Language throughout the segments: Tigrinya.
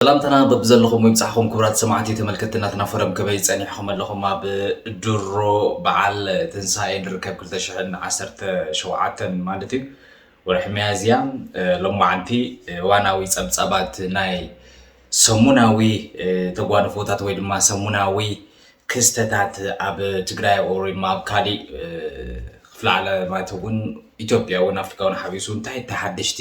ሰላምታና በብዘለኹም ይብጻሕኹም ክብራት ሰማዕቲ ተመልከቲ ናትና ፈረም ከመይ ጸኒሕኹም ኣለኹም ኣብ ድሮ በዓል ትንሳኤ ንርከብ 2017 ማለት እዩ ወርሒ መያዝያ ሎማዓንቲ ዋናዊ ጸብጻባት ናይ ሰሙናዊ ተጓንፎታት ወይ ድማ ሰሙናዊ ክስተታት ኣብ ትግራይ ወይ ድማ ኣብ ካሊእ ክፍለ ዓለማት እውን ኢትዮጵያ እውን ኣፍሪካ እውን ሓቢሱ እንታይ ተሓደሽቲ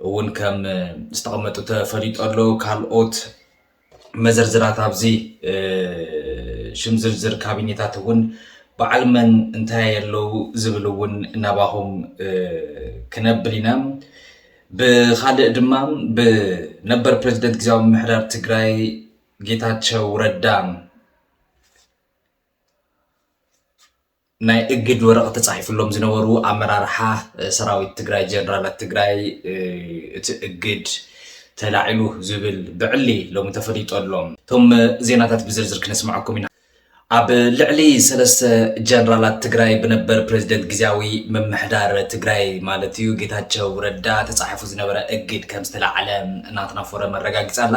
እውን ከም ዝተቐመጡ ተፈሊጦ ኣሎ። ካልኦት መዘርዝራት ኣብዚ ሽም ዝርዝር ካቢኔታት እውን በዓል መን እንታይ ኣለው ዝብል እውን ናባኹም ክነብል ኢና። ብካልእ ድማ ብነበር ፕሬዚደንት ግዜያዊ ምምሕዳር ትግራይ ጌታቸው ረዳ ናይ እግድ ወረቕት ተፃሒፍሎም ዝነበሩ ኣመራርሓ ሰራዊት ትግራይ ጀነራላት ትግራይ እቲ እግድ ተላዒሉ ዝብል ብዕሊ ሎሚ ተፈሊጦ ኣሎ። እቶም ዜናታት ብዝርዝር ክነስምዐኩም ኢና። ኣብ ልዕሊ ሰለስተ ጀነራላት ትግራይ ብነበር ፕሬዚደንት ግዜያዊ ምምሕዳር ትግራይ ማለት እዩ ጌታቸው ረዳ ተፃሒፉ ዝነበረ እግድ ከም ዝተላዓለ ናትና ፎረም ኣረጋጊፃ ኣላ።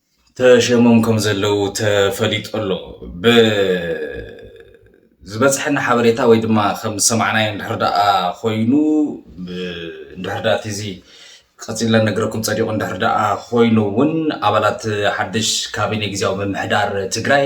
ተሸይሞም ከምዘለዉ ተፈሊጡ ኣሎ። ብዝበጽሐና ሓበሬታ ወይ ድማ ከም ዝሰማዕናዮ እንድሕር ደኣ ኮይኑ እንድሕር ደኣ እቲ እዚ ቀጺልና ነገረኩም ጸዲቑ እንድሕር ደኣ ኮይኑ እውን ኣባላት ሓድሽ ካቢኔ ግዝያዊ ምምሕዳር ትግራይ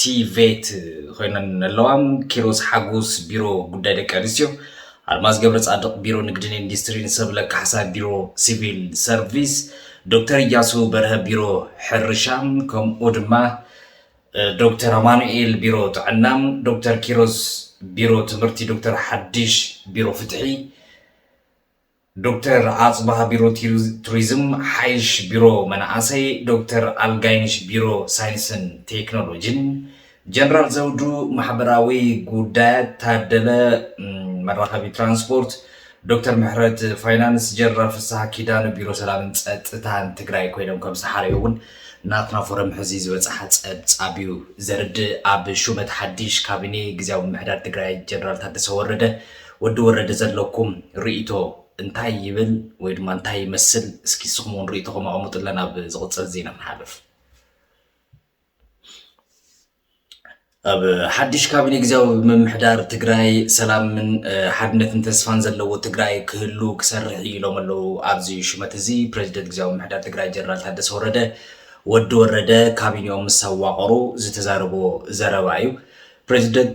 ቲቬት ኮይነን ኣለዋ። ኪሮስ ሓጎስ ቢሮ ጉዳይ ደቂ ኣንስትዮ፣ ኣልማዝ ገብረጻድቕ ቢሮ ንግድን ኢንዱስትሪን፣ ሰብለ ካሕሳ ቢሮ ሲቪል ሰርቪስ፣ ዶክተር እያሱ በርሀ ቢሮ ሕርሻ ከምኡ ድማ ዶክተር ኣማኑኤል ቢሮ ጥዕና፣ ዶክተር ኪሮስ ቢሮ ትምህርቲ፣ ዶክተር ሓድሽ ቢሮ ፍትሒ ዶክተር ኣፅባህ ቢሮ ቱሪዝም፣ ሓይሽ ቢሮ መናእሰይ፣ ዶክተር ኣልጋይነሽ ቢሮ ሳይንስን ቴክኖሎጂን፣ ጀነራል ዘውዱ ማሕበራዊ ጉዳያት፣ ታደለ መራኸቢ ትራንስፖርት፣ ዶክተር ምሕረት ፋይናንስ፣ ጀነራል ፍስሃ ኪዳኑ ቢሮ ሰላምን ፀጥታን ትግራይ ኮይኖም ከም ዝተሓረዩ እውን ናትና ፎረም ሕዚ ዝበፅሓ ፀብፃብ እዩ ዘርድእ። ኣብ ሹመት ሓዲሽ ካቢኔ ግዝያዊ ምምሕዳር ትግራይ ጀነራል ታደሰ ወረደ ወዲ ወረደ ዘለኩም ሪኢቶ እንታይ ይብል ወይ ድማ እንታይ ይመስል እስኪ ንስኹም እውን ሪኢቶኹም ኣቐምጡለን ኣብ ዝቕፅል ዜና ንሓልፍ ኣብ ሓድሽ ካቢኔ ግዜያዊ ምምሕዳር ትግራይ ሰላምን ሓድነትን ተስፋን ዘለዎ ትግራይ ክህሉ ክሰርሕ እዩ ኢሎም ኣለዉ ኣብዚ ሽመት እዚ ፕሬዚደንት ግዜያዊ ምምሕዳር ትግራይ ጀነራል ታደሰ ወረደ ወዲ ወረደ ካቢኔኦም ምስ ኣዋቐሩ ዝተዛረቦ ዘረባ እዩ ፕሬዚደንት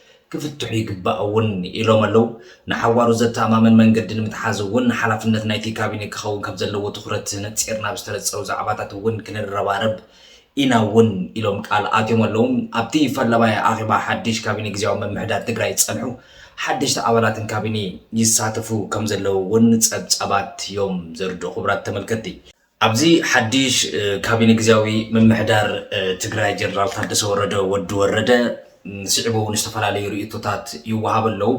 ክፍትሑ ይግባእ እውን ኢሎም ኣለው። ንሓዋሩ ዘተኣማምን መንገዲ ንምትሓዝ እውን ሓላፍነት ናይቲ ካቢኔ ክኸውን ከምዘለዎ ትኹረት ነፂርና ኣብ ዝተነፀሩ ዛዕባታት እውን ክንረባረብ ኢና እውን ኢሎም ቃል ኣትዮም ኣለው። ኣብቲ ፈላማይ ኣኼባ ሓድሽ ካቢኔ ግዝያዊ ምምሕዳር ትግራይ ዝፀንሑ ሓደሽቲ ኣባላትን ካቢኔ ይሳተፉ ከምዘለው እውን ፀብፃባት እዮም ዘርድኡ። ክቡራት ተመልከትቲ! ኣብዚ ሓዱሽ ካቢነ ግዝያዊ ምምሕዳር ትግራይ ጀነራል ታደሰ ወረደ፣ ወዲ ወረደ፣ ስዒቡ እውን ዝተፈላለዩ ርእይቶታት ይወሃቡ ኣለው።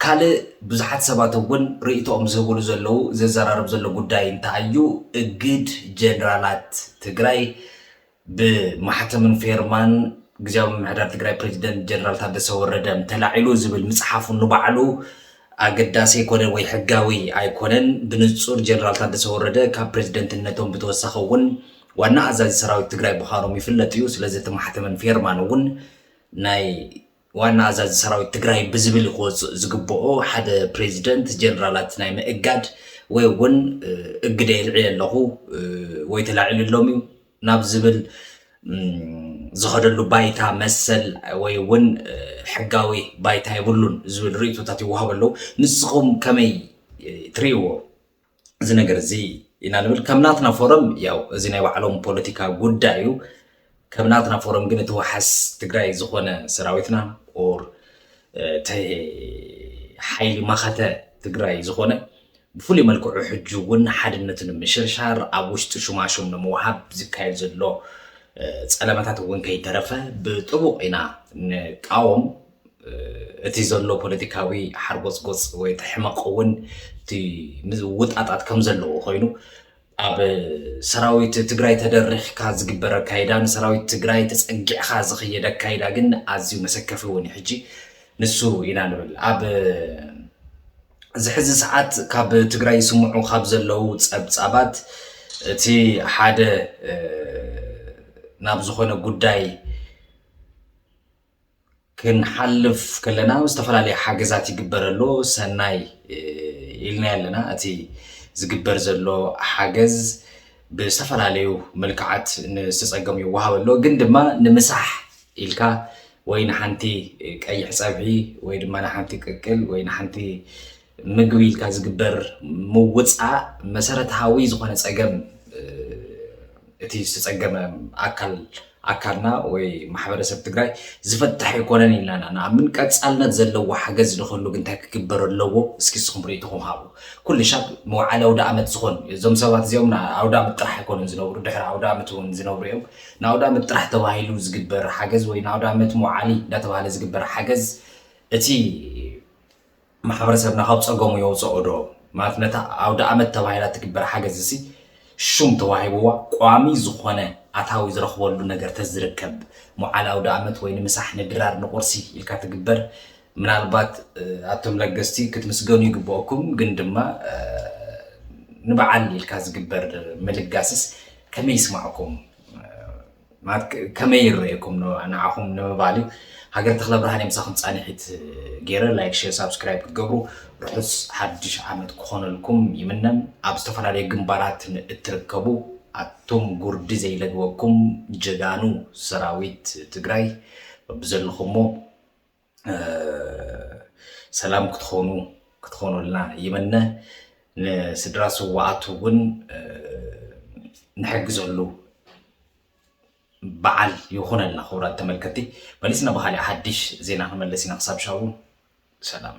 ካልእ ብዙሓት ሰባት እውን ርእይቶኦም ዝህቡሉ ዘለው ዘዘራርብ ዘሎ ጉዳይ እንታይ እዩ? እግድ ጀነራላት ትግራይ ብማሕተምን ፌርማን ግዝያዊ ምምሕዳር ትግራይ ፕሬዚደንት ጀነራል ታደሰ ወረደ ተላዒሉ ዝብል ምፅሓፉ ንባዕሉ ኣገዳሲ ኣይኮነን ወይ ሕጋዊ ኣይኮነን። ብንፁር ጀነራል ታደሰ ወረደ ካብ ፕሬዚደንትነቶም ብተወሳኺ እውን ዋና ኣዛዚ ሰራዊት ትግራይ ምዃኖም ይፍለጥ እዩ። ስለዚ እቲ ማሕተምን ፌርማን እውን ናይ ዋና ኣዛዚ ሰራዊት ትግራይ ብዝብል ክወፅእ ዝግበኦ ሓደ ፕሬዚደንት ጀነራላት ናይ ምእጋድ ወይ እውን እግደ የልዕል ኣለኹ ወይ ተላዒሉ ኣሎም እዩ ናብ ዝብል ዝኸደሉ ባይታ መሰል ወይ እውን ሕጋዊ ባይታ የብሉን ዝብል ርእቶታት ይወሃብ ኣለዉ ንስኹም ከመይ ትርእይዎ እዚ ነገር እዚ ኢና ንብል ከም ናትና ፎረም ያው እዚ ናይ ባዕሎም ፖለቲካ ጉዳይ እዩ ከም ናትና ፎረም ግን እቲ ዋሓስ ትግራይ ዝኾነ ሰራዊትና ኦር እቲ ሓይሊ መኸተ ትግራይ ዝኾነ ብፍሉይ መልክዑ ሕጂ እውን ሓድነት ንምሽርሻር ኣብ ውሽጢ ሹማሹም ንምውሃብ ዝካየድ ዘሎ ፀለመታት እውን ከይተረፈ ብጥቡቕ ኢና ንቃወም እቲ ዘሎ ፖለቲካዊ ሓርጎጽጎጽ ወይ እቲ ሕመቕ እውን እቲ ምውጣጣት ከም ዘለዎ ኮይኑ ኣብ ሰራዊት ትግራይ ተደሪኽካ ዝግበር ኣካይዳ ንሰራዊት ትግራይ ተጸጊዕኻ ዝኸየድ ኣካይዳ ግን ኣዝዩ መሰከፊ እውን ሕጂ ንሱ ኢና ንብል ኣብ እዚ ሕዚ ሰዓት ካብ ትግራይ ይስምዑ ካብ ዘለው ፀብፃባት እቲ ሓደ ናብ ዝኾነ ጉዳይ ክንሓልፍ ከለና ዝተፈላለየ ሓገዛት ይግበር ኣሎ ሰናይ ኢልና ኣለና እቲ ዝግበር ዘሎ ሓገዝ ብዝተፈላለዩ መልክዓት ንዝተፀገሙ ይወሃብ ኣሎ ግን ድማ ንምሳሕ ኢልካ ወይ ንሓንቲ ቀይሕ ፀብሒ ወይ ድማ ንሓንቲ ቅቅል ወይ ንሓንቲ ምግቢ ኢልካ ዝግበር ምውፃእ መሰረታዊ ዝኾነ ፀገም እቲ ዝተፀገመ ኣካል ኣካልና ወይ ማሕበረሰብ ትግራይ ዝፈትሕ ኣይኮነን ኢልና ኢና ንኣምን። ቀፃልነት ዘለዎ ሓገዝ ንክህሉ ግን እንታይ ክግበር ኣለዎ? እስኪ ንስኹም ርኢቶኹም ሃቡ። ኩሉ ሻብ መውዓሊ ኣውደኣመት ዝኾን እዞም ሰባት እዚኦም ንኣውደኣመት ጥራሕ ኣይኮኑን ዝነብሩ፣ ድሕሪ ኣውደኣመት እውን ዝነብሩ እዮም። ንኣውደኣመት ጥራሕ ተባሂሉ ዝግበር ሓገዝ ወይ ንኣውደኣመት መውዓሊ እንዳተባህለ ዝግበር ሓገዝ እቲ ማሕበረሰብና ካብ ጸገሙ የውጸኦ ዶ ማለት ነታ ኣውደኣመት ተባሂላ ትግበር ሓገዝሲ ሹም ተዋሂብዋ ቋሚ ዝኾነ ኣታዊ ዝረኽበሉ ነገር ተዝርከብ ሞዓል ኣውደኣመት ወይ ንምሳሕ ንድራር ንቁርሲ ኢልካ ትግበር ምናልባት ኣቶም ለገስቲ ክትምስገኑ ይግበኦኩም ግን ድማ ንበዓል ኢልካ ዝግበር ምልጋስስ ከመይ ይስማዕኩም ማለት ከመይ ይረኤኩም ንዓኹም ንምባል እዩ ሃገር ተክለ ብርሃን የምሳኹም ፃንሒት ገይረ ላይክ ሼር ሳብስክራይብ ክትገብሩ ርሑስ ሓድሽ ዓመት ክኾነልኩም ይምነን ኣብ ዝተፈላለዩ ግንባራት እትርከቡ ኣቱም ጉርዲ ዘይለግበኩም ጀጋኑ ሰራዊት ትግራይ ብዘለኹሞ ሰላም ክትኾኑ ክትኾኑልና ይምነ። ንስድራ ስዋኣት እውን ንሕግዘሉ በዓል ይኹነልና። ክቡራት ተመልከቲ መሊስና ብካሊእ ሓድሽ ዜና ክንመለስ ኢና። ክሳብ ሻቡ ሰላም